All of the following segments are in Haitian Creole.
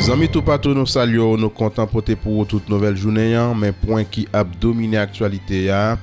Zanmi toupatou nou salye w nou kontan pote pou ou tout nouvèl jounen an men pwen ki ap domine aktyalite a.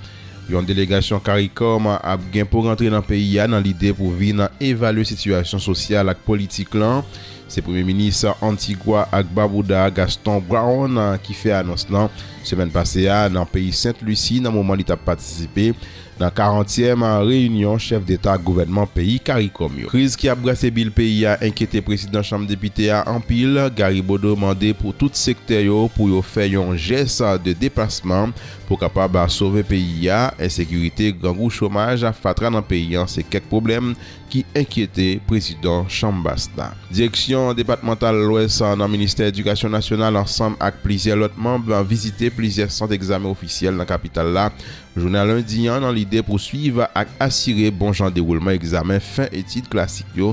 Yon delegasyon caricom ap gen pou rantre nan peyi a nan lide pou vin evalye sitiyasyon sosyal ak politik lan. Se premye minis Antigwa ak Babouda a Gaston Brown ki fè anons lan semèn pase a nan peyi Sent Lusi nan moman li t ap patisipe nan karantyèm reyinyon chèf deta ak gouvènman peyi caricom yo. Kriz ki ap brase bil peyi a enkyete prezidan chanm depite a anpil. Gary Bodeau mande pou tout sektè yo pou yo fè yon jès de depasman Pou kapab sove peyi a, ensekirite, grangou, chomaj, fatra nan peyi an se kèk pwoblèm ki enkyete prezidan chanm bas la. Direksyon depatmantal Lwès nan ministè edikasyon nasyonal ansanm ak plizyè lòt manb vizite plizyè sant egzamen ofisyèl nan kapital la jounen a lendi an nan lide pou swiv ak asire bon jan dewoulman egzamen fen etid klasik yo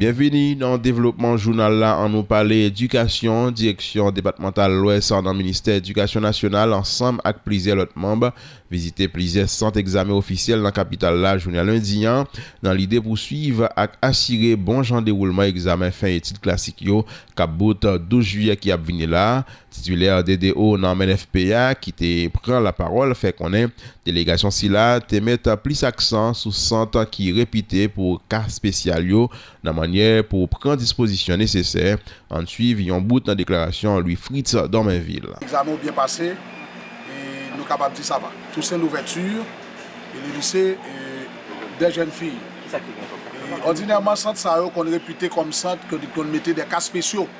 Byenvini nan devlopman jounal la an nou pale edikasyon, direksyon depatmantal lwès nan ministè edikasyon nasyonal ansanm ak plizyè lòt manb vizite plizyè sant egzamen ofisyèl nan kapital la jounen lendi an nan lide pou swiv ak asire bon jan dewoulman egzamen fen etid klasik yo kap bout 12 jiyè ki ap vini la. Titilè DDO nan menfp a ki te pran lapawòl fè konnen delegasyon sila te met plis aksan sou sant ki repite pou ka spesyal yo nan mannyè pou pran dispozisyon nesesè. Ann swiv yon bout nan deklarasyon Louis Fritz Dormainville. Egzamen ou byen pase e nou kapab di sa va. Toussaint Louverture e le lise dè jèn fiy. Ordinèman sant sa yo konn repite kòm sant ke nou konn mete dè ka spesyo.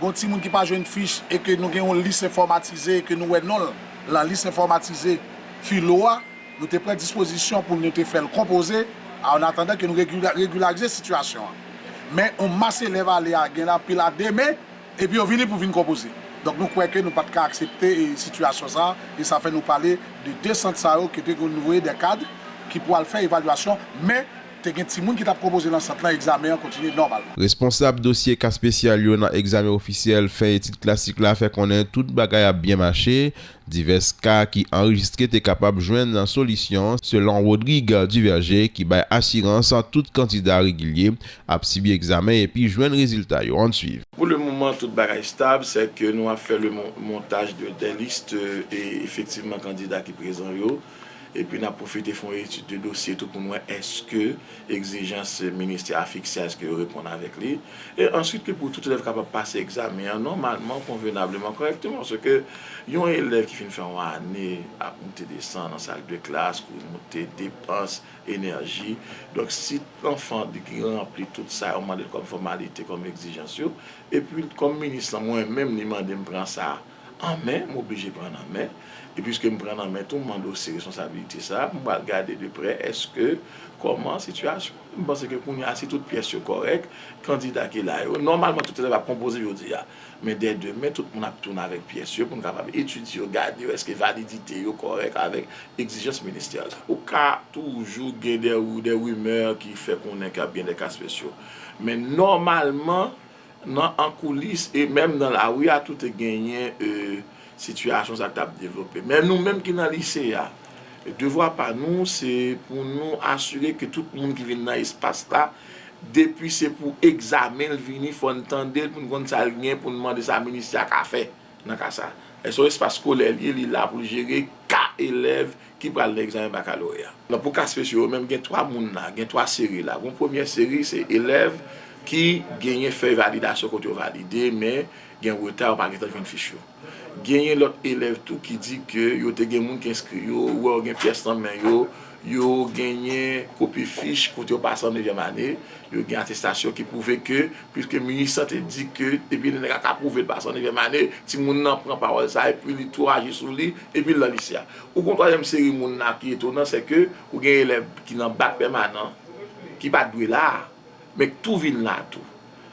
Gon timoun ki pa jwenn fich e ke nou gen yon lis enfòmatize e ke nou wè non l lan lis enfòmatize Filo a, nou te pran dispozisyon pou nou te fè l konpoze a an atandan ke nou regilarize sitiyasyon an. Men yon mas elèv ale a gen anpil a demen epi yo vini pou vin konpoze. Donk nou kwè ke nou pa t ka aksepte sitiyasyon sa a e sa fè nou pale de 2 sant sa yo kote ke nou voye dè kad ki pou al fè evalyasyon men Te gen timoun ki t ap konpoze nan sant lan, egzamen an kontinye nòmalman. Responsab dosye ka spesyal yo nan egzamen ofisyèl fen etid klasik la fè konnen tout bagay ap byen mache, divès ka ki anrejistre te kapab jwenn solisyon, selon Rodrigue Duverger ki bay asirans tout kandida regilye ap sibi egzamen epi jwenn rezilta yo an swiv. Pou le moman tout bagay stab, sè ke nou ap fè le montaj de des listes efektivman kandida ki prezan yo. Epi n ap pwofite fè yon etid de dosye tou pou n wè èske egzijans ministè a fikse a èske yo reponn avèk li. E answit ke pou tout elèv kapab pase egzamen an nòmalman, konvenableman, kòrèkteman. Se ke yon elèv ki fin fè yon ane ap moute desann nan sal de klas, kouri moute, depans, enèji. Donk si lanfan di ki ranpli tout sa yo mande l kòm fòmalite, kòm egzijans yo, epi kòm minis lan mwen menm li mande m pran sa, an men, m oblije pran nan men, e piske m pran nan men tou m andose responsabilite sa, m pral gade de prè eske kòman sitiyasyon an ye, m panse ke kounye a si tout pyès yo kòrèk, kandida ki la yo, nòmalman tout elèv ap konpoze jodi a, men dè demen tout moun ap tounen avèk pyès yo pou nou kapab etidye yo, gade yo eske validite yo kòrèk avèk egzijans ministè la. Ou ka toujou gen dè rimè ki fè konnen ke ap gen dè ka spesyo, men nòmalman. Nan an koulis e menm nan lari a tou te genyen sitiyasyon sa t ap devlope. Men nou menm ki nan lise a, devwa pa nou se pou nou asire ke tout moun ki vin nan espas la, depi se pou egzamen l vini fò n tande l pou n konn sa l gen pou n mande sa ministè a ka fè nan ka sa. Lè se yon espas skolè l ye, li la pou l jere ka elèv ki pral nan egzamen bakaloreya. Nan pou ka spesyo yo menm gen 3 moun la, gen 3 seri la. Gon premyè seri se elèv ki genyen fèy validasyon kote yo valide men gen reta yo pa gen tan jwenn fich yo. Genyen lòt elèv tou ki di ke yo te gen moun ki enskri yo, ou wè yo gen pyès nan men yo, yo genyen kopi fich kote yo pase an nevyèm ane, yo gen atestasyon ki pwouve ke piske Minustah te di ke depi lè nèg la ka pwouve l pase an nevyèm ane, timoun nan pran pawòl sa epi li tou aji sou li epi l nan lise a. Ou kon twazyèm seri moun la ki etonan sè ke ou gen elèv ki nan bak pèmanan ki pat dwe la a men k tou vin la tou.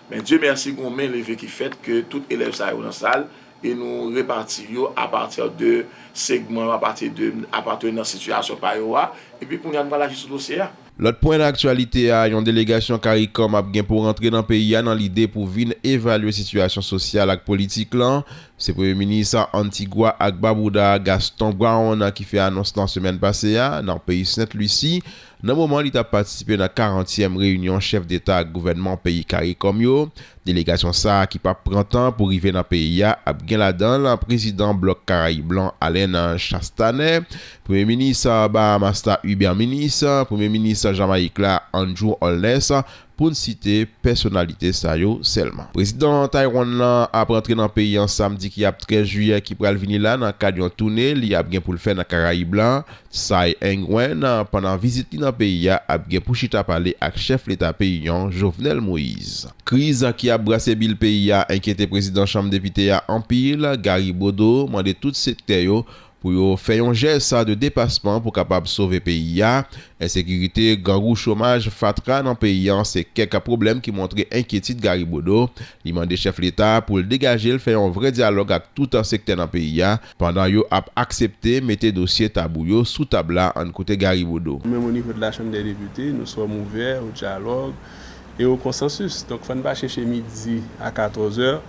Men Dye mèsi gon men leve ki fèt ke tout elèv sa yo nan sal e nou repati yo a pati de segman yo a pati de a pati nan sitiyasyon pa yo a epi kounye a nou pral aji sou dosye a. Lòt pwen nan aktyalite a, yon delegasyon caricom ap gen pou rantre nan peyi a nan lide pou vin evalye sitiyasyon sosyal ak politik lan. Se Premye Minis Antigua ak Babouda a, Gaston Brown ki fè anons lan semèn pase a nan peyi Sent Lisi nan moman li tap patisipe nan 40 tièm reyinyon chèf deta ak gouvènman peyi caricom yo Delegasyon sa a ki pap pran tan pou rive nan peyi a ap gen ladan l prezidan blòk karayib lan Alain Chastanet, premye minis Bahamas la Hubert Minnis, premye minis Jamayik la Andrew Holness pou n site pèsonalite sa yo sèlman. Prezidan Taiwan lan ap rantre nan peyi an samdi ki ap 13 jiyè ki pral vini la nan kad yon toune li ap gen pou l fè nan karayib la Tsai Ing-wen pandan vizit li nan peyi a ap gen pou chita pale ak chèf leta peyi an, Jovenel Moise. Kriz ki ap brase bil peyi a enkyete prezidan chanm depite a anpil, Gary Bodeau mande tout sektè yo pou yo fè yon jès de depasman pou kapab sove peyi a. Ensekirite, grangou, chomaj, fatra nan peyi an se kèk pwoblèm ki montre enkyetid Gary Bodeau. Li mande chèf leta pou l degaje l fè yon vrè dyalòg ak tout sektè nan peyi a Pandan yo ap aksepte mete dosye tabou yo sou tab la ann koute Gary Bodeau. Menm o nivo de la Chanm dè Depite, nou sòm ouvè o dyalòg e o konsansis. Donk fò n pa chèche midi a katòzè.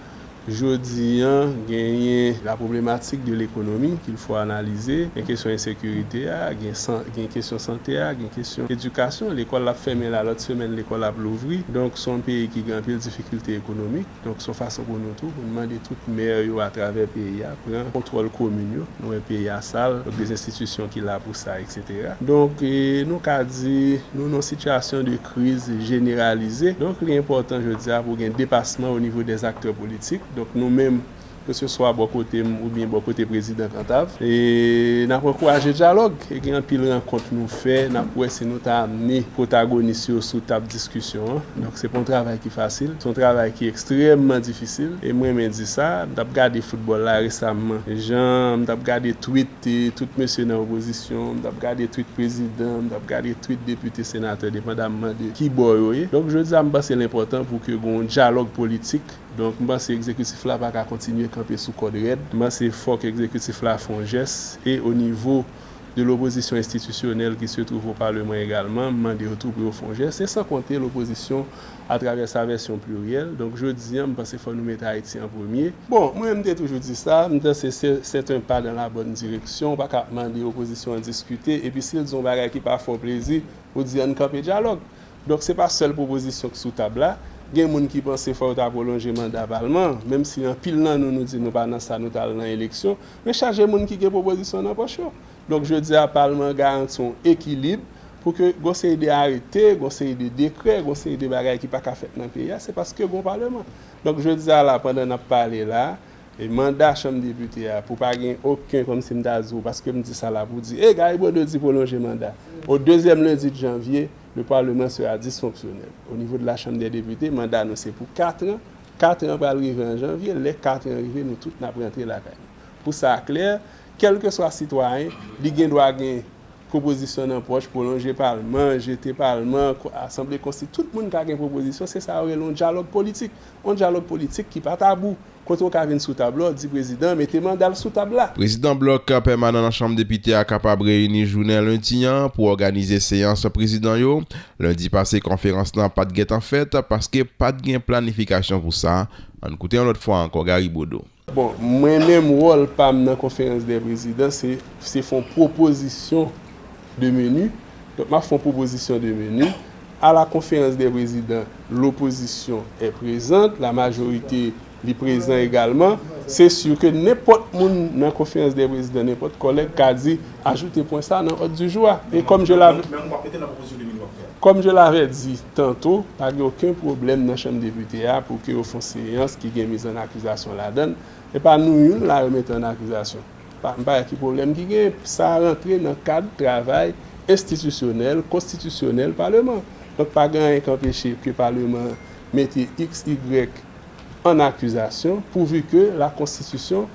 Jodi an genyen la pwoblematik de lekonomi kil fò analize, gen kesyon ensekirite a, gen kesyon sante a, gen kesyon edikasyon. Lekòl ap fèmen la, lòt semèn lekòl ap louvri. Donk s on peyi ki gen anpil difikilte ekonomik. Donk son fason pou nou tou pou nou mande tout maire yo atravè peyi a pran kontwòl komin yo, nou wè peyi a sal, donk de enstitisyon ki la pou sa etc. Donk nou ka di nou nan sitiyasyon de kriz jeneralize, donk li enpòtan jodi a pou gen depasman onivo dè aktè politik, donk nou menm keseswa bò kote m oubyen bò kote Prezidan Kantav. E n ap ankouraje dyalòg e gen anpil rankont nou fè, n ap wè si nou ta amne pwotagonis yo sou tab diskisyon an. Donk se pa yon travay ki fasil, se yon travay ki ekstrèmman difisil. E m renmen di sa, m t ap gade foutbòl la resamman, jan m t ap gade twit tout mesye nan opozisyon, m t ap gade twit prezidan, m t ap gade twit depite, senatè depandamman de ki bò yo ye. Donk jodi a m panse l enpòtan pou ke gen yon dyalòg politik. Donk m panse ekzekitif la pa ka kontinye kanpe sou kòd rèd. M panse fòk ekzekitif la fè yon jès e o nivo de lopozisyon enstitisyonèl ki se twouve o paleman egalman, m mande yo tou pou yo fè yon jès e san konte lopozisyon atravè sa vèsyon pliryèl. Donk jodi an m panse fò nou mete Ayiti an premye. Bon, mwen m te toujou di sa, m panse se c'est un pas dans la bonne direction, ou pa ka ap mande opozisyon an diskite epi si l di yon bagay ki pa fè w plezi, ou di an n kanpe dyalòg. Donk se pa sèl pwopozisyon k sou tab la, gen moun ki panse fò yo ta pwolonje manda palman, menm si anpil nan nou nou di nou pa nan sa nou ta al nan eleksyon, men chaje moun ki gen pwopozisyon nan pòch yo. Donk jodi a palman an garanti yon ekilib pou ke gon seri de arete, gon seri de dekrè, gon seri de bagay ki pa ka fèt nan peyi a, se paske gon paleman. Donk jodi a la pandan n ap pale la, E manda chanm depite a pou pa gen oken kòm si m ta di w paske m di sa la pou di e Gary Bodeau di pwolonje manda o dezyèm lendi de janvye le parlement sera dysfonctionnel o nivo de la chanm dè depite manda nou se pou katran katran pral rive an janvye lè katran rive nou tout nap rantre lakay nou pou sa klè kèlkeswa sitwayen li gen dwa gen pwopozisyon nan pòch pwolonje palman jete palman asanble konsti tout moun ka gen pwopozisyon se sa yo rele yon dyalòg politik yon dyalòg politik ki pa tabou. Kote w ka vin sou tab la, w di prezidan an mete manda l sou tab la. Prezidan blòk pèmanan nan Chanm Depite a kapab reyini jounen lendi an pou òganize seyans prezidan yo. Lendi pase konferans lan pat gentan fèt paske pat gen planifikasyon pou sa. Ann koute yon lòt fwa ankò Gary Bodeau. Bon, mwen menm wòl pa m nan konferans dè prezidan se se fon pwopozisyon de meni Donk m ap fè yon pwopozisyon de menu. A la konferans dè prezidan, lopozisyon è prezant, la majorite li prezan egalman. Se su ke nenpòt moun nan konferans dè prezidan, nenpòt kòlèg ka di ajoute pwen sa nan òd di jou a. E kòm je la. Men w ap mete nan pwopozisyon de menu w ap fè a. Kòm je lavè di tanto, pa gen oken pwoblèm nan chanm depite a pou ke yo fon seyans ki gen miz an akizasyon ladann. E pa nou youn la yo mete an akizasyon. Pa m pa wè ki pwoblèm ki gen. Sa a rantre nan kad travay enstitisyonèl, konstitisyonèl Paleman. Donk pa gen anyen k anpeche ke Paleman mete iks, igrèk ann akizasyon pouvi ke lakonstitisyon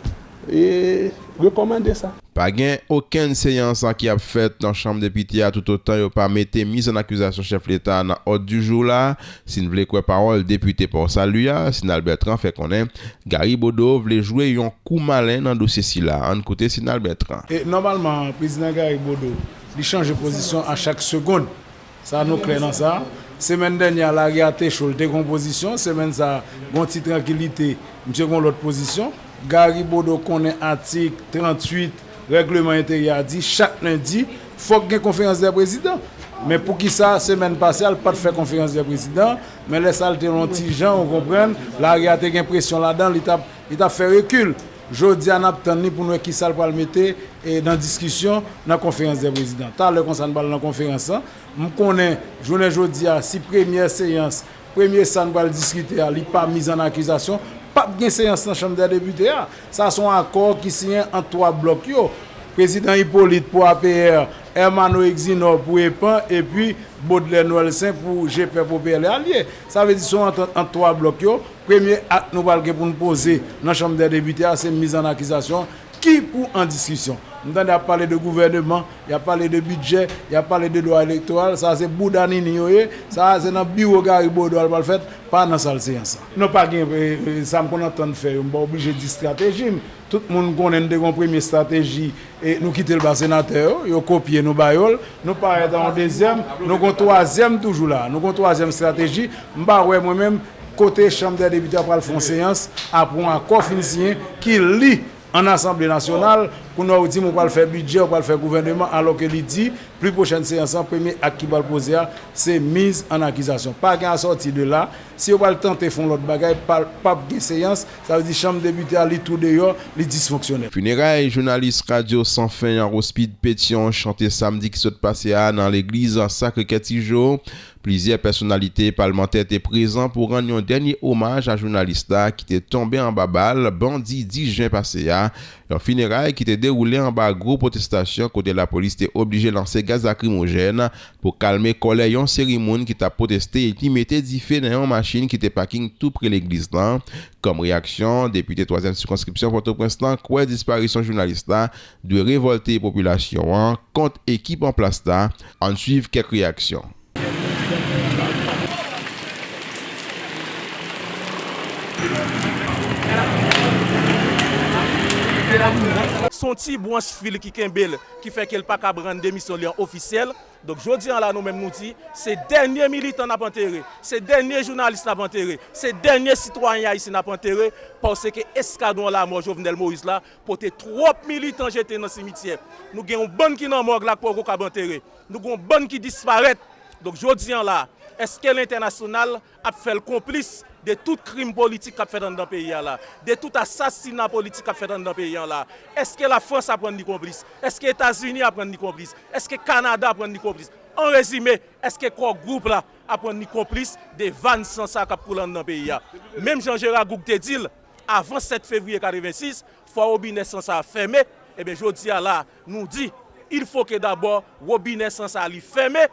rekòmande sa. Pa gen okenn seyans ki ap fèt nan Chanm Depite a toutotan yo pa mete miz ann akizasyon chèf leta a nan òd di jou la. Si n vle kwè pawòl depite Port Salut a, Sinal Bertrand fè konnen Gary Bodeau vle jwe yon kou malen nan dosye sila. Ann koute Sinal Bertrand. E nòmalman Prezidan Gary Bodeau li chanje pozisyon a chak segond. Sa nou klè nan sa. Semèn dènyè a lari a te cho, li te gen yon pozisyon. Semèn sa a, gen yon ti trankilite, misye gen yon lòt pozisyon. Gary Bodeau konnen atik 38. Règleman enteryè a di chak lendi fòk gen konferans dè prezidan men poukisa semèn pase a l pat fè konferans dè prezidan men lè sa l te yon ti jan ou konprann lari a te gen presyon ladan li tap li tap fè rekil jodi a nap tann li pou n wè kisa l pral mete nan diskisyon nan konferans dè prezidan talè konsa n pral nan konferans lan m konnen jounen jodi a si premyè seyans Premye sa n pral diskite a, li pa miz an akizasyon, pa p gen seyans nan Chanm dè Depite a. Sa se yon akò ki siyen ant 3 blòk yo, Prezidan Hyppolite pou apr, Ermanno Exinor pou epan epi Baudelaire Noëlsaint pou Gpèp au PL et Alliés. Sa vle di se yon antant ant 3 blòk yo. Premye ak nou pral gen pou n poze nan Chanm dè Depite a se miz an akizasyon ki pou an diskisyon. M tande y ap pale de gouvèneman. Yap pale de bidjè, yap pale de lwa elektoral, sa se bouda Nini yo ye, sa a se nan biwo Gary Bodeau al pral fèt, pa nan sal seyans la. Non pa gen sa m konn antann fè yo m pa oblije di estrateji m, tout moun konnen n te gen yon premye estrateji e nou kite l ba senatè yo, yo kopye nou ba yo l, nou parèt a yon dezyèm, nou gen yon twazyèm toujou la a, nou gen yon twazyèm estrateji, m pa wè mwen menm kote chanm dè depite a pral fè yon seyans apre yon akò fin siyen ki li. an asanble nasyonal, kounye a ou di m ou pral fè bidjè, ou pral fè gouvèneman alò ke li di pli pwochèn seyans lan premye ak ki pral poze a se miz an akizasyon. Pa gen asòti de la, si yo pral tante fon lòt bagay pa pap gen seyans, sa vle di chanm depite a li tou deyò, li disfonksyonèl. Fineray jounalis radyo san fen an Rospide Pétion chante samdi ki sot pase a nan legliz Sacré-Cœur Tijo Plizyè pèsonalite palmantè te prezan pou rann yon dènye omaj a jounalis la ki te tonbe anba bal bandi 10 jen pase a, yon fineray ki te dewoule anba gwo pwotestasyon kote lapolis te oblije lanse gaz lakrimojèn pou kalme kòlè yon seri moun ki tap pwoteste epi mete dife nan yon machin ki te paking tou pre legliz lan kòm reyaksyon. Depite twazyèm sikonskripsyon Pòtoprens lan kwè disparisyon jounalis la Dwe revolte popilasyon an kont ekip an plas la, ann swiv kèk reyaksyon. Se yon ti branch fil ki kenbe l, ki fè ke l pa kab rann demisyon li an ofisyèl. Donk jodi an la nou menm nou di, se dènye militan n ap antere, se dènye jounalis n ap antere, se dènye sitwayen ayisyen n ap antere, paske eskadwon lamò Jovenel Moïse la Kote twòp militan jete nan simityè. Nou gen yon bann ki nan mòg la k poko kab antere. Nou gen yon bann ki disparèt. Donk jodi an la, èske lentènasyonal ap fè l konplis de tout krim politik k ap fèt anndan peyi a la? De tout asasina politik k ap fèt anndan peyi an la? Èske Lafrans ap rann li konplis? Èske Etazini ap rann li konplis? Èske Kanada ap rann li konplis? An rezime, èske Core Group la ap rann li konplis de vàn san sa k ap koule anndan peyi a? Menm jan Jera Goug te di l, avan 7 fevriye 86, fwa wobinè san sa a fèmen, ebyen jodi a la nou di, il fo ke dabò wobinè san sa a li fèmen,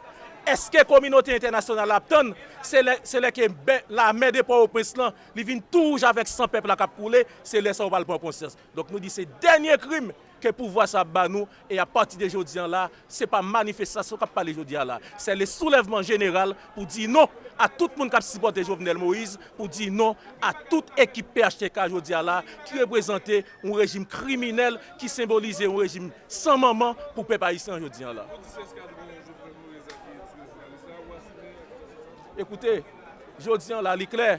èske kominote entènasyonal la ap tann se lè, se lè ke bè lamè de Pòwoprens lan li vin tou wouj avèk san pèp la k ap koule, se lè sa yo pral pran konsyans. Donk nou di se dènye krim ke pouvwa sa ap ba nou, e a pati de jodi an la, se pa manifestasyon k ap pale jodi a la, sè le soulèvman jeneral pou di non a tout moun k ap sipòte Jovenel Moïse, pou di non a tout ekip phtk jodi a la, ki reprezante yon rejim kriminèl, ki senbolize yon rejim san manman pou pèp ayisyen jodi an la. Ekoute, jodi an la li klè,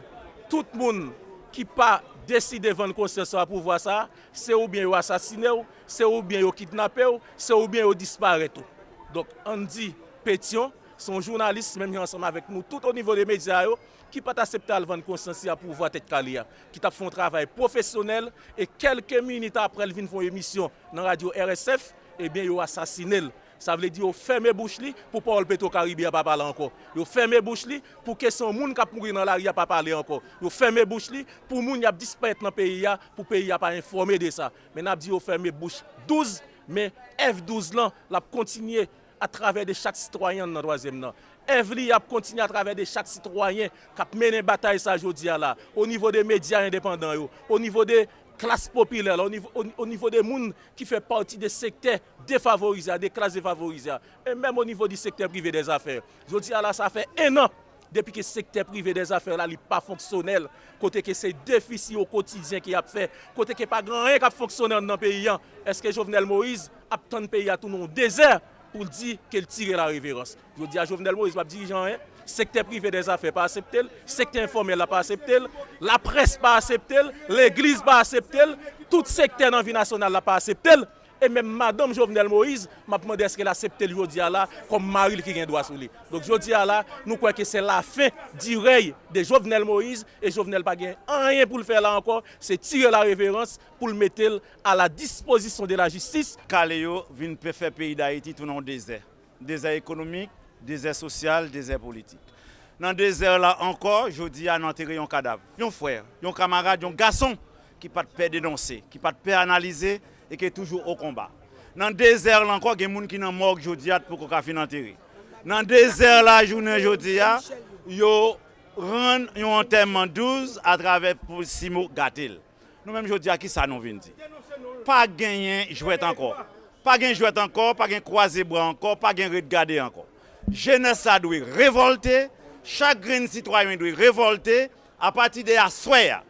tout moun ki pa deside vann konsyans yo a pouvwa sa, Se oubyen yo asasine w, se oubyen yo kidnape w, se oubyen yo disparèt ou. Donk, Andy Pétion, se yon jounalis menm jan ansanm avèk nou tout onivo de medya yo, ki pa t asepte al vann konsyans a pouvwa Tèt Kale a, ki t ap fè yon travay pwofesyonèl e kèlke minit aprè l vin fè yon emisyon nan radyo RSF, ebyen yo asasine l. Sa vle di yo fèmen bouch li pou pawòl Petro Caribe a pa pale ankò. Yo fèmen bouch li pou kesyon moun kap mouri nan lari a pa pale ankò. Yo fèmen bouch li pou moun yap disparèt nan peyi a pou peyi a pa enfòme de sa. Men nap di yo fèmen bouch 12 men èv 12 lan lap kontinye a travè de chak sitwayen nan twazyèm nan. Èv li a ap kontinye a travè de chak sitwayen kap mennen batay sa jodi a la o nivo de medya endepandan yo, o nivo de klas popilè la, o nivo de moun ki fè pati de sektè defavorize a, de klas defavorize a, e menm o nivo di sektè prive dè zafè. Jodi a la sa fè 1 an depi ke sektè prive dè zafè la li pa fonksyonèl, kote ke se defisi o kotidyen ki ap fè, kote ke pa gen anyen k ap fonksyone an nan peyi an. Eske Jovenel Moïse ap tann peyi a tounen yon dezè pou l di ke l tire lareverans? Jodi a Jovenel Moïse pa p dirije anyen, sektè prive dè zafè pa asepte l, sektè enfòmèl la pa asepte l, laprès pa asepte l, legliz pa asepte l, tout sektè nan vi nasyonal la pa asepte l. E menm madanm Jovenel Moïse, m ap mande èske l asepte l jodi a la kòm mari l ki gen dwa sou li. Donk jodi a la, nou kwè ke se la fin du rèy de Jovenel Moïse e Jovenel pa gen anyen pou l fè la ankò, se tire la reverence pou l mete l a la dispozisyon de la jistis. Kale yo vin fè peyi Dayiti tounen yon dezè. Dezè ekonomik, dezè sosyal, dezè politik. Nan dezè la ankò, jodi a nou antere yon kadav, yon frè, yon kamarad, yon gason ki pa t pè denonse, ki pa t pè analize e ki toujou o konba. Nan dezè la ankò, gen moun ki nan mòg jodi a t poko ka fin antere. Nan dezè la jounen jodi a, yo rann yon antèman douz atravè pou simo gate l. Nou menm jodi a ki sa nou vin di? Pa genyen jwèt ankò. Pa gen jwèt ankò, pa gen kwaze bra ankò, pa gen ret gade ankò. Jenès la dwe revòlte, chak grenn sitwayen dwe revòlte a pati de aswè a,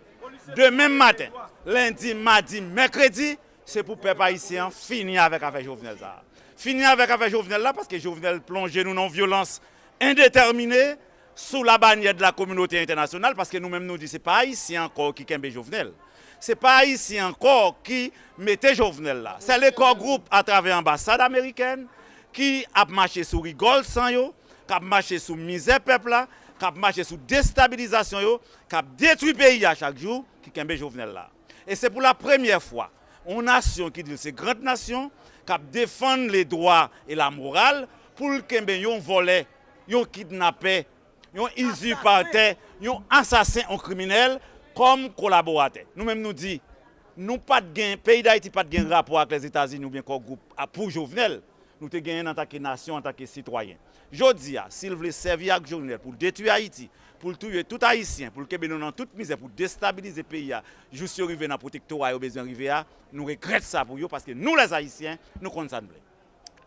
demen maten, lendi, madi, mèkredi, se pou pèp ayisyen an fini avèk afè Jovenel sa a. Fini avèk afè Jovenel la paske Jovenel plonje nou nan yon vyolans endetèmine. sou la banyè de la kominote entènasyonal paske nou menm nou di se pa ayisyen ankò ki kenbe Jovenel se pa ayisyen ankò ki mete Jovenel la sè le kò gwoup a travè anbasad amerikèn ki ap mache sou rigòl san yo k ap mache sou mizè pèp la k ap mache sou destabilizasyon yo k ap detwi peyi a chak jou ki kenbe Jovenel la e se pou la premyè fwa yon nasyon ki di l se grand nasyon k ap defann le dwa e la moral pou l kenbe yon vòlè yon kidnapè, yon izipatè, yon asasen, yon kriminèl kòm kolaboratè. Nou menm nou di, nou pa t gen, peyi Dayiti pa t gen rapò ak Lèzetazini oubyen Kò Gwoup a pou Jovenel. Nou te genyen l antanke nasyon, antanke sitwayen. Jodi a, si l vle sèvi ak Jovenel pou l detwi Ayiti, pou l touye tout Ayisyen, pou l kenbe nou nan tout mizè, pou destabilize peyi a jous yo rive nan pwotektora yo bezwen rive a, nou regrèt sa pou yo paske nou lèzayisyen, nou konn sa n vle.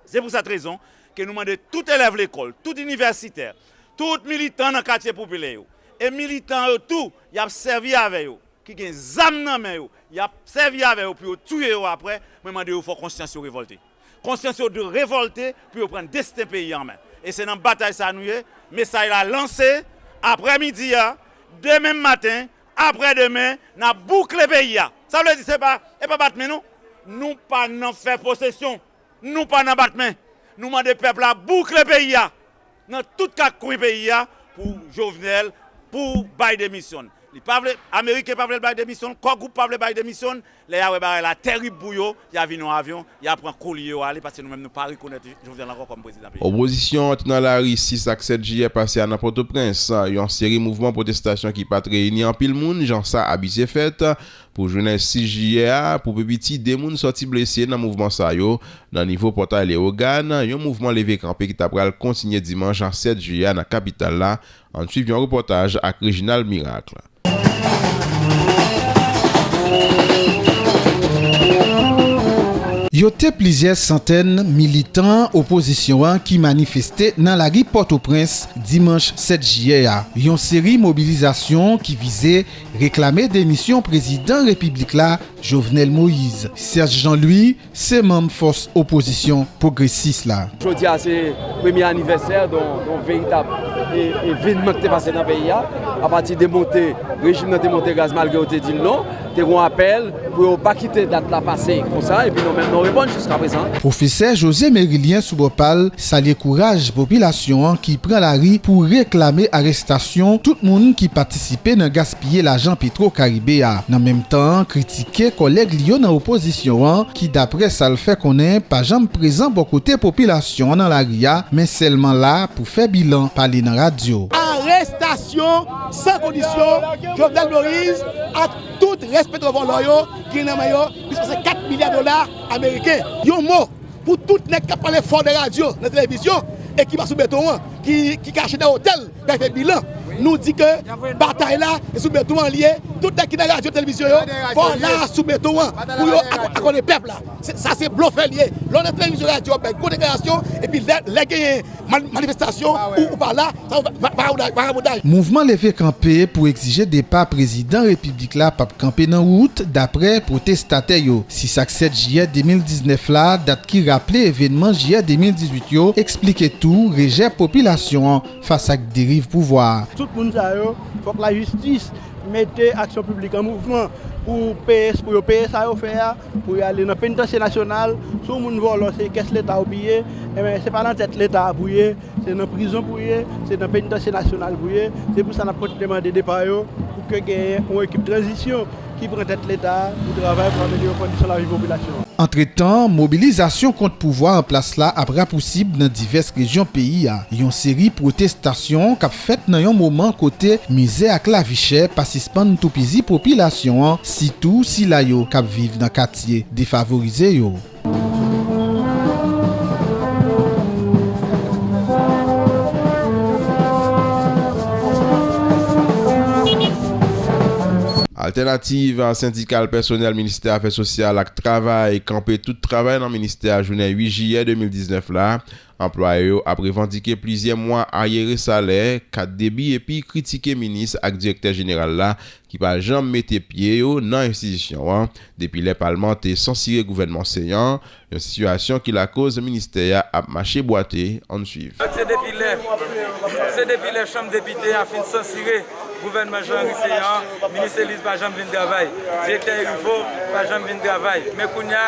Se pou sat rezon ke nou mande tout elèv lekòl, tout inivèsitè, tout militan nan katye popilè yo, e militan yo tou y ap sèvi avè yo, ki gen zam nan men yo, y ap sèvi avè yo pou yo touye yo apre, mwen mande yo fò konsyans yo revòlte. Konsyans yo dwe revòlte pou yo pran desten peyi an men. E se nan batay sa a nou ye. Mesay la lanse aprè midi a, demen maten Aprè demen nap boukle peyi a. Sa vle di se pa e pa bat men non. Nou pa nan fè posesyon. Nou pa nan bat men. Nou mande pèp la boukle peyi a. Nan tout kak kwen peyi a pou Jovenel pou bay demisyon l. Li pa vle, ameriken pa vle l bay demisyon l, Core Group pa vle bay demisyon l. Lè ya wè bagay la tèrib pou yo, ya vin yon avyon, ya pran kolye yo ale paske nou menm nou pa rekonèt Jovenel ankò kòm prezidan peyi a. Opozisyon an te nan lari 6 ak 7 jiyè pase a nan Pòtoprens, yon seri mouvman pwotestasyon ki pat reyini anpil moun jan sa abitye fèt pou jounen 6 jiyè a. Pou pi piti 2 moun sòti blese nan mouvman sa yo nan nivo Pòtay Lewogàn, yon mouvman leve kanpe ki ta pral kontinye dimanch 7 jiyè a nan kapital la. Ann swiv yon repòtaj ak Reginald Miracle. Yo te plizyè santèn militan opozisyon an ki manifeste nan lari Pòtoprens dimanch 7 jiyè a, yon seri mobilizasyon ki vize reklame demisyon prezidan repiblik la, Jovenel Moïse. Serge Jean-Louis. Se manm fòs opozisyon pwogresis la. Jodi a se premye anivèsè yon veritab evenman ki te pase nan peyi a. Apati de monte, rejim nan te monte gaz malgre yo te di l non. Te gon apèl pou yo pa kite dat la pase konsa epi nou menm nou reponn jiskaprezan. Pwofesè José Mérilien sou bò pa l salye kouraj popilasyon an ki pran lari pou reklame arestasyon tout moun ki patisipe nan gaspiyaj. piye lajan Petro Karibe a, nan menm tan an kritike kòlèg li yo nan opozisyon an ki daprè sa l fè konnen pa janm prezan bò kote popilasyon an nan lari a men sèlman la pou fè bilan, pale nan radyo. Arestasyon san kondisyon Jovenel Moïse ak tout rès petwovòlò yo ki gen nan men yo plis pase 4 milya dola ameriken. Yon mo pou tout nèg k ap pale fò nan radyo, nan televizyon e ki pa sou beton an, ki kache dèyè otèl Dèyè bilan, nou di ke batay la se sou beton an li ye, tout nèg ki nan radyo televizyon yo fò la sou beton an pou yo akònen pèp la, sa se blofè li ye, lè w nan televizyon radyo wap bay gwo deklarasyon epi lè genyen manifestasyon ou pa la, sa se vagabondaj. Mouvman leve kanpe pou egzije depa prezidan repiblik la pap kanpe nan wout daprè pwotestatè yo. 6 ak 7 jiyè 2019 la, dat ki raple evenman jiyè 2018 yo, Eksplike tou rejè popilasyon an fas ak deriv pouvwa a. Tout moun sa yo fòk lajistis mete aksyon piblik an mouvman pou peye pou yo peye sa yo fè a, pou yo ale nan penitansye nasyonal. Si yon moun vòlò se kès leta ou piye, enben se pa nan tèt leta a pou ye, se nan prizon pou ye, se nan penitansye nasyonal pou ye. Se pou sa n ap kontinye mande depa yo pou ke genyen yon ekip tranzisyon. ki pran tèt Leta a pou travay pou amelyore kondisyon lavi popilasyon an. Antretan, mobilizasyon kont pouvwa anplas la ap rapousib nan divès rejyon peyi a, yon seri pwotestasyon k ap fèt nan yon moman kote mizè ak lavichè pa sispann toupizi popilasyon an, sitou sila yo k ap viv nan katye defavorize yo. Altènativ Sendikal Pèsonèl Ministè Afè Sosyal ak Travay kanpe tout travay nan ministè a jounen 8 jiyè 2019 la. Anplwaye yo ap revandike plizyè mwa aryere salè, kat debi epi kritike minis ak direktè jeneral la ki pa janm mete pye yo nan enstitisyon an depi lè palman te sansire gouvènman Ceant, yon sitiyasyon ki lakoz ministè a ap mache bwate, ann swiv. Se depi lè Se depi lè chanm depite a fin sansire gouvènman Jean Henry Céant an, minis Eliz pa janm vin travay, direktè Heriveaux pa janm vin travay, men kounya.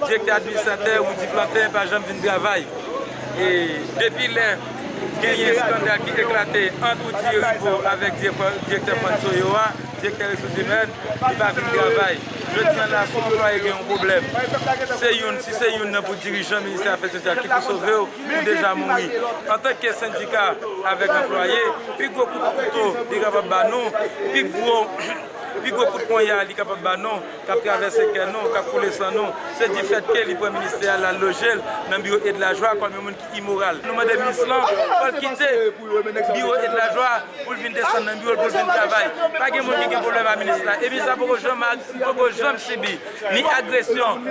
Direktè administratè Rudy Plantin pa janm vin travay e depi lè genyen skandal ki eklate ant Rudy Heribaut avèk direktè Fantso yo a, direktè resous imèn, li pa vin travay. Jodi an la si yon anplwaye gen yon pwoblèm, se youn, si se youn nan pou dirijan ministè afè sosyal ki pou sove w, ou deja mouri. Antanke sendika avèk anplwaye, pi gwo kout kouto li kapab ba nou, pi gwo kout ponya li kapab ba nou. k ap travèse kè nou, k ap koule san nou, se di fèt ke li pran ministè a, l al loje l nan biwo Edlajwa kòm yon moun ki imoral. Nou mande minis lan fò l kite biwo Edlajwa pou l vin desann nan biwo l pou l vin travay. Pa gen moun ki gen pwoblèm a minis la e minis la poko janm ak poko janm sibi ni agresyon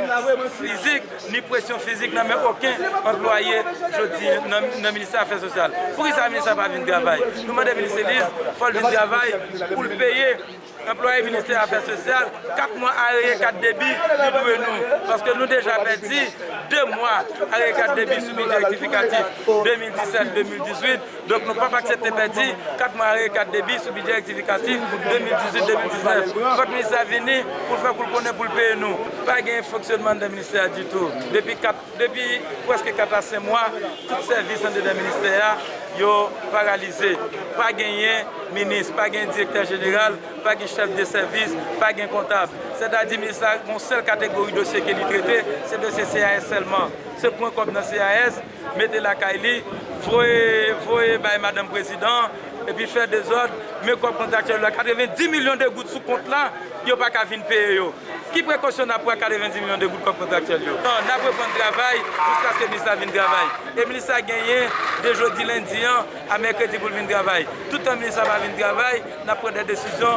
fizik ni presyon fizik nan men oken anplwaye jodi nan ministè afè sosyal. Poukisa minis la pa vin travay? Nou mande minis Eliz fò l vin travay pou l peye. Anplwaye ministè afè sosyal kap mwa areye kat debi yo dwe nou paske nou deja pèdi 2 mwa areye kat debi sou bidjè rektifikatif 2017, 2018 donk nou pap aksepte pèdi 4 mwa areye kat debi sou bidjè rektifikatif 2018, 2019 fòk minis la vini poul fè koul konnen poul peye nou pa gen fonksyonman anndan ministè a ditou depi 4. Depi prèske 4 a 5 mwa, tout sèvis andedan ministè a, yo paralize. Pa genyen minis, pa gen direktè jeneral, pa gen chèf de sèvis, pa gen kontab. Sètadi minis la gen yon sèl kategori dosye ke li trete, se dosye CAS sèlman. Se pran kòb nan CAS, mete lakay li, voye, voye bay madanm prezidan, epi fè dezòd, men kòb kontraktyèl yo la, 90 milyon de goud sou kont la, yo pa ka vin peye yo. Ki prekosyon n ap pran ak 90 milyon de goud kòb kontraktyèl yo? N ap reprann travay jiskaske minis la vin travay. E minis la genyen de jodi lendi an a mèkredi pou l vin travay. Toutan minis la pa vin travay, n ap pran de desizyon.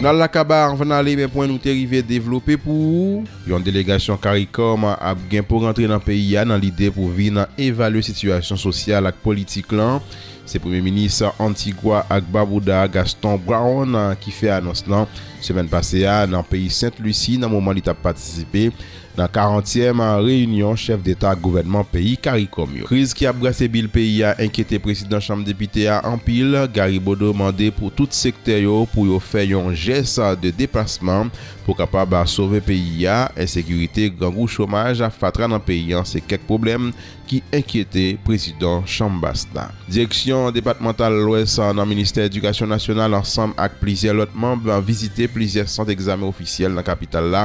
Nou al la kaba anvan n ale men pwen nou te rive devlope pou ou. Yon delegasyon caricom ap gen pou rantre nan peyi a nan lide pou vin evalye sitiyasyon sosyal ak politik lan. Se premye minis Antigwa ak Babouda Gaston Brown ki fè anons lan semèn pase a nan peyi Sent Lusi nan moman li tap patisipe Nan karantyèm reyinyon chèf deta ak gouvènman peyi caricom yo. Kriz ki ap brase bil peyi a enkyete prezidan chanm depite a anpil, Gary Bodeau mande pou tout sektè yo pou yo fè yon jès de depasman pou kapab sove peyi a, ensekirite, grangou, chomaj, fatra nan peyi an se kèk pwoblèm ki enkyete prezidan chanm bas la. Direksyon depatmantal lwès nan ministè edikasyon nasyonal ansanm ak plizyè lòt manb vizite plizyè sant egzamen ofisyèl nan kapital la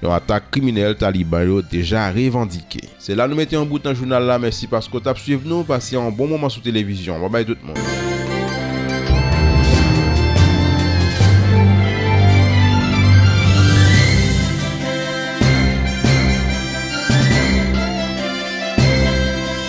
Yon atak kriminèl Taliban yo deja revandike. Se la nou mete yon bout nan jounal la mèsi paske w tap swiv nou pase yon bon moman sou televizyon an babay tout moun.